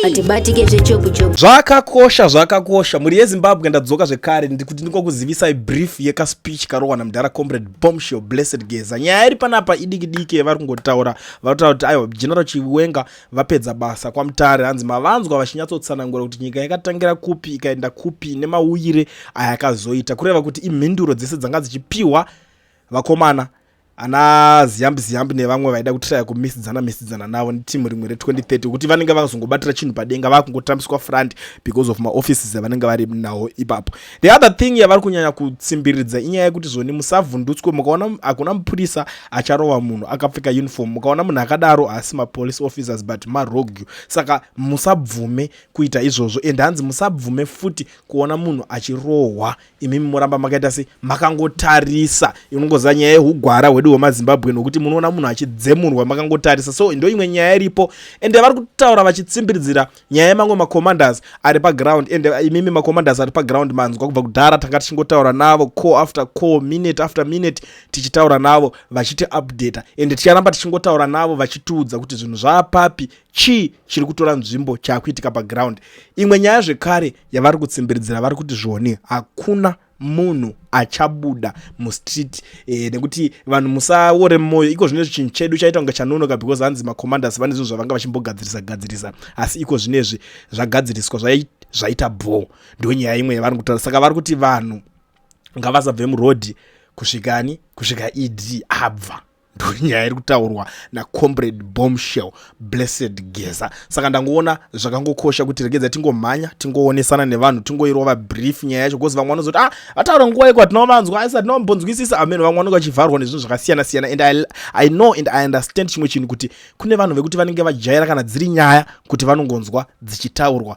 hatibatike zvechokuchoku zvakakosha zvakakosha mhuri yezimbabwe ndadzoka zvekare ndikuti ndingokuzivisai brief yekaspeech karohwa namdhara comrade bombshell blessed geza nyaya iri panapa idiki diki yevari kungotaura vanotaura kuti aiwa general chiwenga vapedza basa kwamutare hanzi mavanzwa vachinyatsotsanangura kuti nyika yakatangira kupi ikaenda kupi nemauyire ayakazoita kureva kuti imhinduro dzese dzanga dzichipiwa vakomana ana ziyambi ziyambi nevamwe vaida kutiraya kumisidzana misidzana navo netimu rimwe re2030 kuti vanenge vakazongobatira chinhu padenga vakungotambiswa front because of maoffices avanenge vari nawo ipapo the other thing yavari kunyanya kutsimbiridza inyaya yekuti zvoni musavhundutswe mukaona hakuna mupurisa acharova munhu akapfeka uniform mukaona munhu akadaro haasi mapolice officers but marogyu saka musabvume kuita izvozvo and hanzi musabvume futi kuona munhu achirohwa imimi moramba makaita se makangotarisa inongoziva nyaya yehugwara hwedu hwemazimbabwe nokuti munoona munhu achidzemurwa makangotarisa so ndo imwe nyaya iripo ende vari kutaura vachitsimbidzira nyaya yemamwe macommanders ari paground ende imimi macommanders ari paground manzwa kubva kudhara tanga tichingotaura navo co after co minute after minute tichitaura navo vachiti updata ende ticharamba tichingotaura navo vachitiudza kuti zvinhu zvaapapi chii chiri kutora nzvimbo chaakuitika paground imwe nyaya zvekare yavari kutsimbiridzira vari kuti zvoni hakuna munhu achabuda mustreet e, nekuti vanhu musaore mwoyo iko zvino chinhu chedu chaita kunge chanonoka because hanzi macommanders vane zvinhu zvavanga vachimbogadzirisa gadzirisa asi iko zvinezvi zvagadziriswa zvaita bho ndo nyaya imwe yavari kutaura saka vari kuti vanhu ngavasabve murodhi kusvikani kusvika ed abva ndonyaya iri kutaurwa nacomrade bombshell blessed geza saka ndangoona zvakangokosha kuti regedza tingomhanya tingoonesana nevanhu tingoirova brief nyaya yacho bcause vamwe vanozoti ah vataura nguva iko hatinomanzwa asi hatinombonzwisisa amen vamwe vanonge vachivharwa nezvinhu zvakasiyana siyana and I, i know and i understand chimwe chinhu kuti kune vanhu vekuti vanenge vajaira kana dziri nyaya kuti vanongonzwa dzichitaurwa